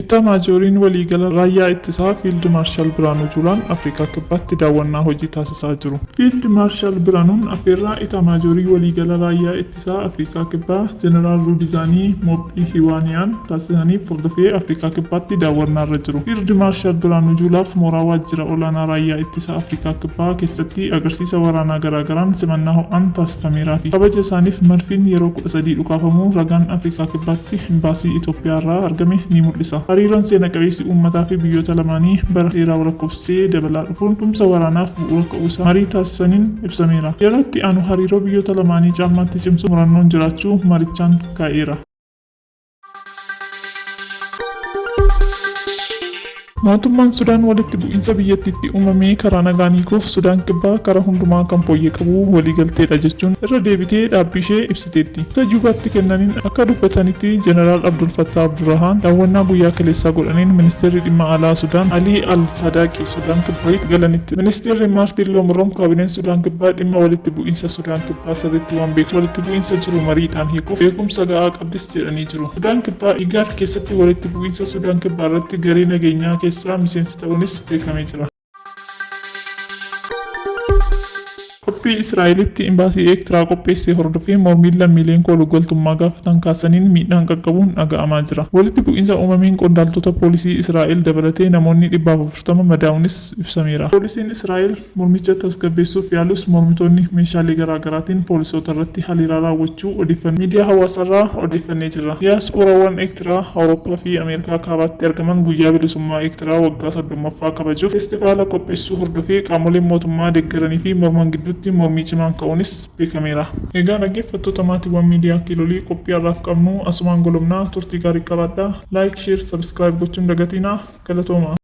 Itaamaajooriin Waliigala Raayyaa Ittisaa Fiild Maarshal Biraanuu Juulaan Afrikaa Kibbaatti daawwannaa hojii taasisaa jiru. Fiild Maarshal Biraanuun affeerraa Itaamaajoorii Waliigala Raayyaa Ittisaa Afrikaa Kibbaa Jeneraal Ruudizaanii Moophihiwaaniyaan taasisaniif hordofee Afrikaa Kibbaatti daawwannaarra jiru. Fiild Maarshal Biraanuu Juulaaf mooraa Waajjira Olaanaa Raayyaa Ittisaa Afrikaa Kibbaa keessatti agarsiisa waraanaa garaagaraan simannaa ho'aan taasifamee jira. Kameeraa fi kabaja isaaniif madfiin yeroo kudha sadii dhukaafamuu ragaan Afrikaa Kibbaatti Imbaasii Itoophiyaa irraa argame ni mul'isa. Hariiroon seena qabeessi uummataa fi biyyoota lamaanii bara dheeraa walakkofsisee dabalaa dhufuun tumsa waraanaaf bu'uura ka'uu isaa marii taasisaniin ibsameera. Yeroo itti aanu hariiroo biyyoota lamaanii caalmaatti cimsuuf murannoon jiraachuu marichaan kaa'eera. Mootummaan Sudaan walitti bu'iinsa biyyattiitti uumamee karaa nagaan hiikuuf Sudaan Kibbaa karaa hundumaa kan fooyyee qabu waliigalteedha jechuun irra deebitee dhaabbii ishee ibsiteetti. Ibsa Juubaatti kennaniin akka dubbatanitti Jeneraal Abdul Fattah Abdurrahaan daawwannaa guyyaa kaleessaa godhaniin Ministeerri Dhimma Alaa Sudaan Alii Al Sadaaqi Sudaan Kibbaatti galanitti. Ministeerri Maartiin Loomuroom kaabineen Sudaan Kibbaa dhimma walitti bu'iinsa Sudaan Kibbaa sirriitti waan beekuuf walitti bu'iinsa jiru mariidhaan hiikuuf beekumsa ga'aa Abdis jedhanii jiru. Sudaan Kibbaa Igaad keessatti walitti bu'iinsa Sudaan Kibbaa irratti garee nageenyaa keessaa miseensa ta'uunis beekamee jira. Qophii Israa'elitti Imbaasii Eektiraa qopheesse hordofee mormiin lammiileen koolugaltummaa gaafatan kaasaniin miidhaan qaqqabuun dhaga'amaa jira. Walitti bu'iinsa uumameen qondaaltota poolisii Israa'el dabalatee namoonni dhibba afurtama madaa'uunis ibsameera. Poolisiin Israa'el Mormicha tasgabbeessuuf yaalus mormitoonni meeshaalee garaa garaatiin poolisoota irratti haleelaa raawwachuu odeeffannoon miidiyaa hawaasaarraa odeeffannee jirra. Diyaaspooraawwan Eertiraa Awurooppaa fi Ameerikaa Kaabaatti argaman guyyaa bilisummaa Eertiraa waggaa 30ffaa kabajuuf feestivaala qopheessuu hordofee qaamoleen mootummaa deeggaranii fi morman gidduutti mormii cimaan ka'uunis beekameera. Egaa dhaggeeffattoota maatiiwwan miidiyaa Kiilolii qophii har'aaf qabnu asumaan golobna. Turtii gaarii qabaadhaa. Like, Share, Subscribe gochuun dagatiinaa. Galatoomaa!